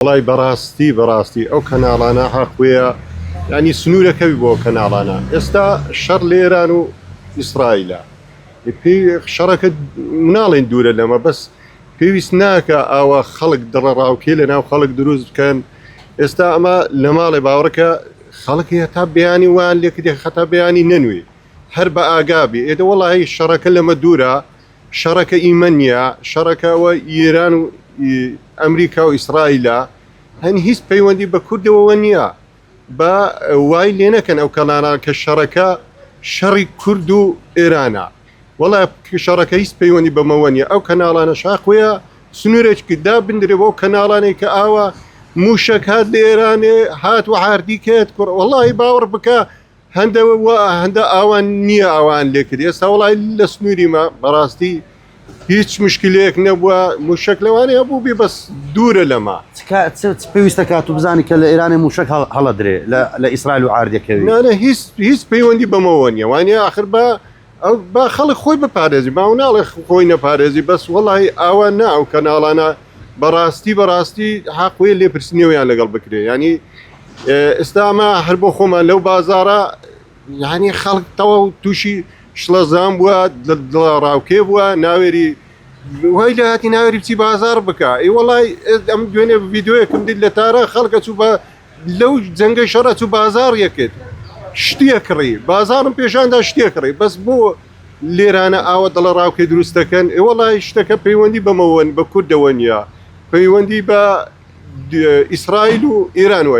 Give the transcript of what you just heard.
وەڵای بەڕاستی بەڕاستی ئەو کەناڵانە حەق بوێە یانی سنوورە کەوی بۆ کەناڵانە ئێستا شەڕ لە ئێران و ئیسرائیلە پێ شەڕەکە مناڵێن دوورە لەمە بەس پێویست ناکە ئاوا خەڵک دڵە ڕاوکێ لە ناو خەڵک دروست بکەن ئێستا ئەمە لە ماڵێ باوڕکە خەڵکی هەتا بیانی وان لێکدێ خەتا بیانی نەنوێ هەر بە ئاگابی ئێدە وڵی شەڕەکە لەمە دوورە شەڕەکە ئیمە نیە شەڕەکە وە ئیران و ئی ئەمریکا و ئیسرائیلە هەن هیچ پەیوەندی بە کوردەوە وە نیە با وای لێ نەکەن ئەو کەناراڵ کە شەڕەکە شەڕی کورد و ئێرانە وەڵا شەڕەکە هیچ پەیوەندی بە مەوە نیە ئەو کەناڵانە شاخویە سنورێچکی دا بندرێ بۆ کەناڵانەی کە ئاوە موشەک هات لە ئێرانێ هات وە هاردی کەێت کوڕ وەڵای باوەڕ بکە هەندە وا هەندە ئاوان نییە ئاوان لێکرد ئێستا وڵای لە سنووریمە بەڕاستی هیچ مشکلەیەک نەبووە موشک لەوانەیە بوو بێ بەس دوورە لەمە پێویستە کات و بزانانی کە لە ئێرانە موشک هەڵە درێ لە ئیسرائیل و ئاردەکەوی نانە هیچ هیچ پەیوەندی بەمەوە نیە وانە آخر بە ئەو با خەڵک خۆی بپارێزی باو ناڵێ خۆی نەپارێزی بەس وەڵی ئاوا نا ئەو کەناڵانە بەڕاستی بەڕاستی حاقوێ لێپرسنیەوەیان لەگەڵ بکرێ ینی ئێستاما هەر بۆ خۆمان لەو بازارە یعنی خەڵک تەوا و تووشی شڵەزان بووە ڕاوکێ بووە ناوێری وای لە هاتی ناوێری بچی بازار بکە ئی وڵی ئەم دوێنێ یددیوەکەم دیت لە تارە خەڵکە چوو بە لەو جەنگە شەڕ ئەچوو بازاڕ یەکێت شتیە کڕی بازاڕم پێشاندا شتێ کڕی بەس بۆ لێرانە ئاوە دڵەڕاوکێ دروستەکەن ئێوەڵی شتەکە پەیوەندی بەمەوەن بە کوردەوە نیە پەیوەندی بە ئیسرائیل و ئێران وە